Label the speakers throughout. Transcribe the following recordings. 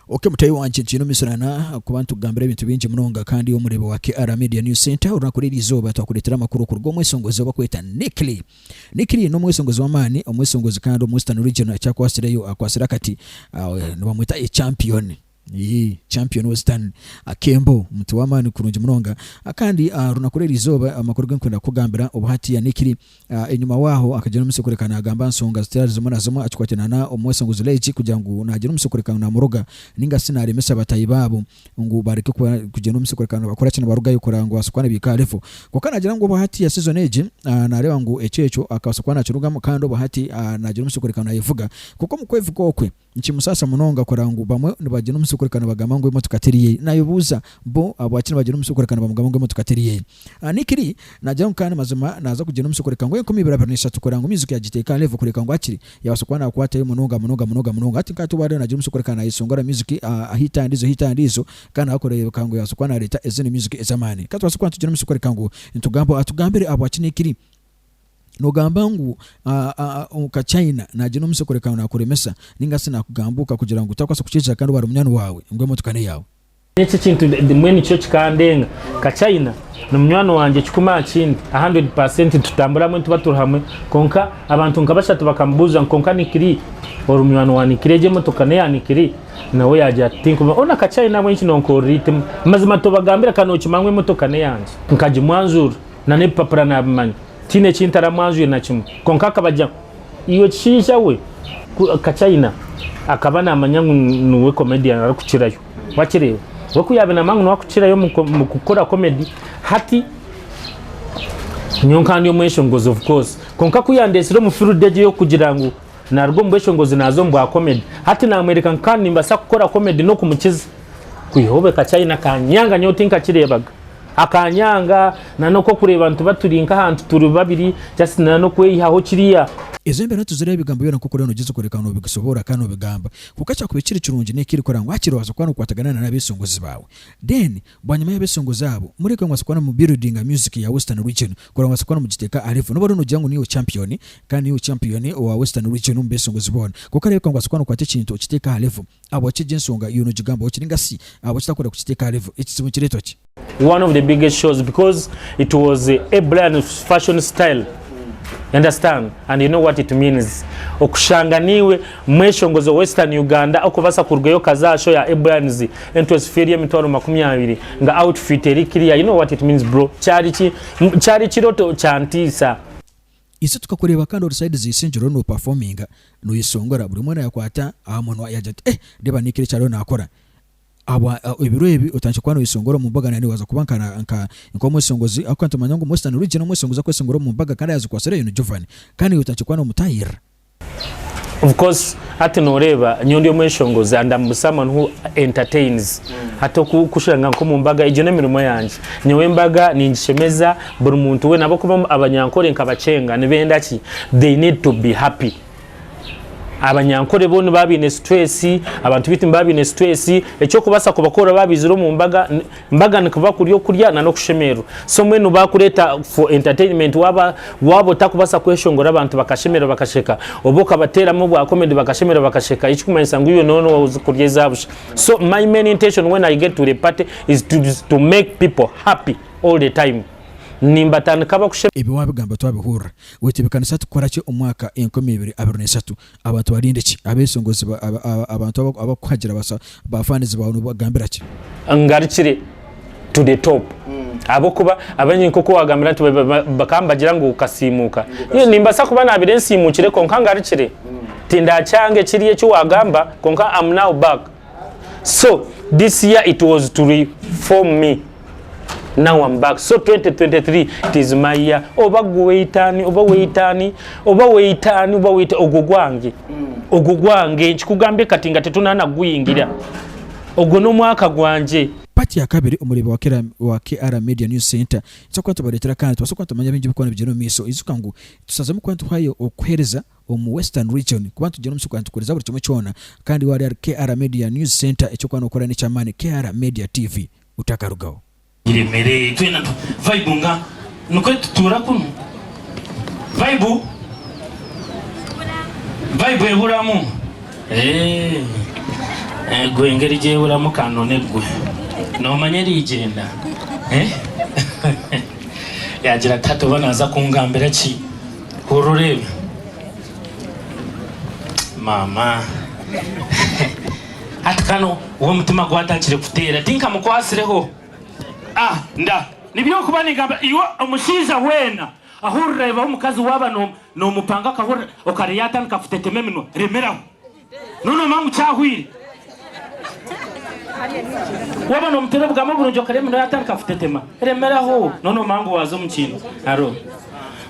Speaker 1: Ok mutaahi wangye gyiine omisuraana ahakuba nitugambira ebintu bingi munonga kandi omureebi wa KR Media News Centre orunaku rw'eri izooba twakureetera amakuru okuruga omwesongozi obakweta Nick Lee. Nick Lee n'omwesongozi w'amaani, omwesongozi kandi omu Western Region ekyakwatsireyo akwatsire akati nibamweta ye Champion iyii Champion Western akembo omuntu w'amaani kurungi munonga. Kandi aha runaku rw'eri izooba amakuru g'enkwenda kukugambira obu hati ya Nick Lee Enyima waaho akagira omutsyo kureka nagamba nsonga zitari zimwe na zimwe akikwatirana na omwesenguzi Leitch kugira ngu nagira omutsyo kureka ngu namuroga ninga shi naremesa batahi baabo ngu bareke kugira omutsyo kureka ngu nibakora ki nibarugayo kureba ngu babaasa kuba nibaika aha level. Kwonka nagira ngu obwahati ya season egi nareeba ngu ekyo ekyo akabaasa kuba nakirugamu kandi obwahati nagira omutsyo kureka nayevuga kwonka omu kwevuga okwe, Nikimusaasa munonga kureba ngu bamwe nibagira omusyo kureka nibagamba ngu emotoka teri yeye. Naayebuuza, Bo ahabwaki nibagira omusyo kureka nibamugamba ngu emotoka teri yeye? Nikiri, naagira ngu kandi mazima naaza kugira omusyo kureka ngu enkumi ibiri abiri na ishatu kureba ngu music yagiteeka aha level kureka ngu akiri. Yaabaasa kuba naakwatayo munonga munonga munonga munonga. Hati nk'ati owaariyo naagira omusyo kureka naayeshongora music hit aha ndiijo hit aha ndiijo kandi nawe kureebeka ngu yaabaasa kuba naareeta ezindi music ez'amaani. Ka tubaase kuba nitugira omusyo kureka ngu nitugambaho. Atugambire ahabwaki. Nikiri. nogamba ngu omuka China nagyenda omutsyo kureka ngu nakuremesa ninga si nakugambuuka kugira ngu otakubaasa kukiija kandi wari munywani waawe ngu emotoka n'eyaawe. Eki ekintu
Speaker 2: bimwe nikyo kikandenga. Ka China ni munywani wangye kikumi aha kindi, a hundred per cent nitutambura hamwe nituba turi hamwe kwonka abantu nka bashatu bakamubuuza ngu kwonka Nick Lee ori munywani wa Nick Lee egi emotoka n'eya Nick Lee? Nawe yaagira ati tinkubimanya. Ona ka China mbwenu eki noonkorera eitima? Mazima tobagambira ka nookimanya ngu emotoka n'eyangye? Nkagimwanjurira. na n'ebipapura nabimanya tihaine eki ntaramwanzwire na kimwe kwonka akaba agira ngu iwe kishaija we ku ka China akaba namanya ngu niwe comedian arikukirayo wakireeba we ku yaaba namanya ngu niwe arikukirayo omu ko- omu kukora comedy hati nyowe nkaba ndi omweshongozi of course kwonka ku yandetsire omu field egyo ey'okugira ngu naruga omu bweshongozi naza omu bwa comedy hati namworeka ngu kandi nimbaasa kukora comedy n'okumukiza kwihaho be ka China kanyanga nyowe tinkakireebaga. Akanyanga na noku okureba nituba turi nka ahantu turi babiri just na nokweyihaho kiriya. Ezo embera tuzireba
Speaker 1: ebigambo byona nkoku oriyo nogyeza kworeka ngu nobisoboora kandi nobigamba kwonka kyakuba ekiri kirungi n'eki orikukora ngu hakiri obaasa kuba nokwatagana na n'abesongozi baawe then bwanyima y'abesongozi abo mureke obaase kuba nomu buildinga music ya western region kurora ngu obaase kuba nomugiteeka aha level noba oriyo nogira ngu niiwe champion kandi niiwe champion owa western region omu besongozi boona kwonka reebeka ngu obaase kuba nokwata ekintu okiteeke aha level Ahabwaki egyo ensonga yoona ogigambaho kiri nka si ahabwaki utakwenda kukiteeka aha level? Ekizibu nikireetwa ki? One of the biggest
Speaker 2: shows because it was a Brian fashion style you understand and you know what it means okushanga naiwe mweshongozi owa Western Uganda okubasa kurugayo okaza aha show ya Brian's entwesi fee eri emitwaro makumi abiri nga outfit eri clear you know what it means bro kyari ki kyari kiroto kyantiisa. Isi
Speaker 1: tukakureeba kandi ori side z'isingye oriyo no performinga noyeshongora buri omwe nayakwata aha munwa yagira ati eh reeba Nick eki ariyo nakora ahabwa ebiro ebi otandikire kuba noyeshongora omu mbaga nari waza kuba nka nka nk'omweshongozi ahabw'okuba nitumanya ngu Mwesitani Region omweshongozi akweshongora omu mbaga kandi ayazikwasireyo ni Jovan kandi nawe otandikire kuba nomutahirira.
Speaker 2: Of course hati noreeba nyowe ndi omweshongozi and I'm someone who entertains hati oku- kushanga nk'omu mbaga egyo n'emirimo yangye nyowe embaga ningishemeza buri muntu weena ahabw'okuba omu- abanyankore nka bakyenga nibenda ki they need to be happy abanyankore bo nibaba baine stress abantu baitu nibaba baine stress eky'okubaasa kubakorera baabaizire omu mbaga ni. Mbaga nikuba kurya okurya na n'okushemererwa. So mbwenu bakureta for entertainment waba waba otakubasa kweshongora abantu bakashemererwa bakasheka oba okabateramu obwa comedy bakashemererwa bakasheka ekikumanyisa ngu iwe noona ozi kurya eza busha. So my main intention when I get to the party is to is to make people happy all the time nimbatandika bakushemererwa. Ebi wabigamba twabihurra.
Speaker 1: Wetebekanisa tukukora ki omwaka enkumi ibiri abiri na esatu? Abantu barinde ki? Abesongozi ba, aba, aba, abantu aba, abakuhagira basa bafanizi bawe nobagambira ki? Ngarukire
Speaker 2: to the top ahabw'okuba abaingi nk'oku wagambira nti ba- ba- bakaba nibagira ngu okasiimuuka. Nyowe nimbaasa kuba naabaire nsiimuukire kwonka ngarukire. Tindakyanga ekiri eki wagamba kwonka am now back. so this year it was to reform me now I'm back so 2023 it is my year oba gwe weyita ani oba weyita ani oba weyita ani oba weyita ogwo gwange ogwo gwange nkikugambye kati nga tetunaana kuguyingira ogwo n'omwaka gwangye. Part ya kabiri
Speaker 1: omureeba wa KR Media News Centre tuza kuba nitubareetera kandi tubaase kuba nitumanya bingi ebirikuba nibigyenda omu maisho. Ijuka ngu tushazemu kuba nituhwayo okukuheereza. omu Western Region kuba nitugira omutsyo gwa nitukuhuriza buri kimwe kyona kandi waaba ori ahari KR Media News Centre eki orikuba nookora n'eky'amaani KR Media TV otakarugaho. Iremere
Speaker 3: itwena tu vibunga nikwe tutuura kunu vibe vibe ehuramu eeh egwe engeri egi ehuramu ka nuna egwe noomanya eriigyenda eeh yaagira ati hati oba naaza kungambira ki Hurira oreebe maama hati kanu w'omutima gwatakire kuteera tinkamukwatsireho ah nda nibyo okuba ningamba iwe omushaija weena ahurira reebaho omukazi waaba nomupanga akahurira okare yatandika kutetema eminwa remeraho. Nonooma ngu kyahwire. Waaba noomuteera obugambo burungi okare emino yaatandika kutetema, remeraho. Nonooma ngu waaza omu kintu haro.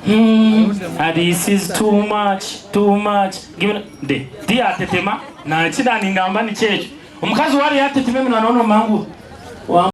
Speaker 3: Humm a this is too much, too much, give na de ti yaatetema, na ki naaningamba nikyo ekyo. Omukazi waaba yaatetema eminwa nonooma ngu wa.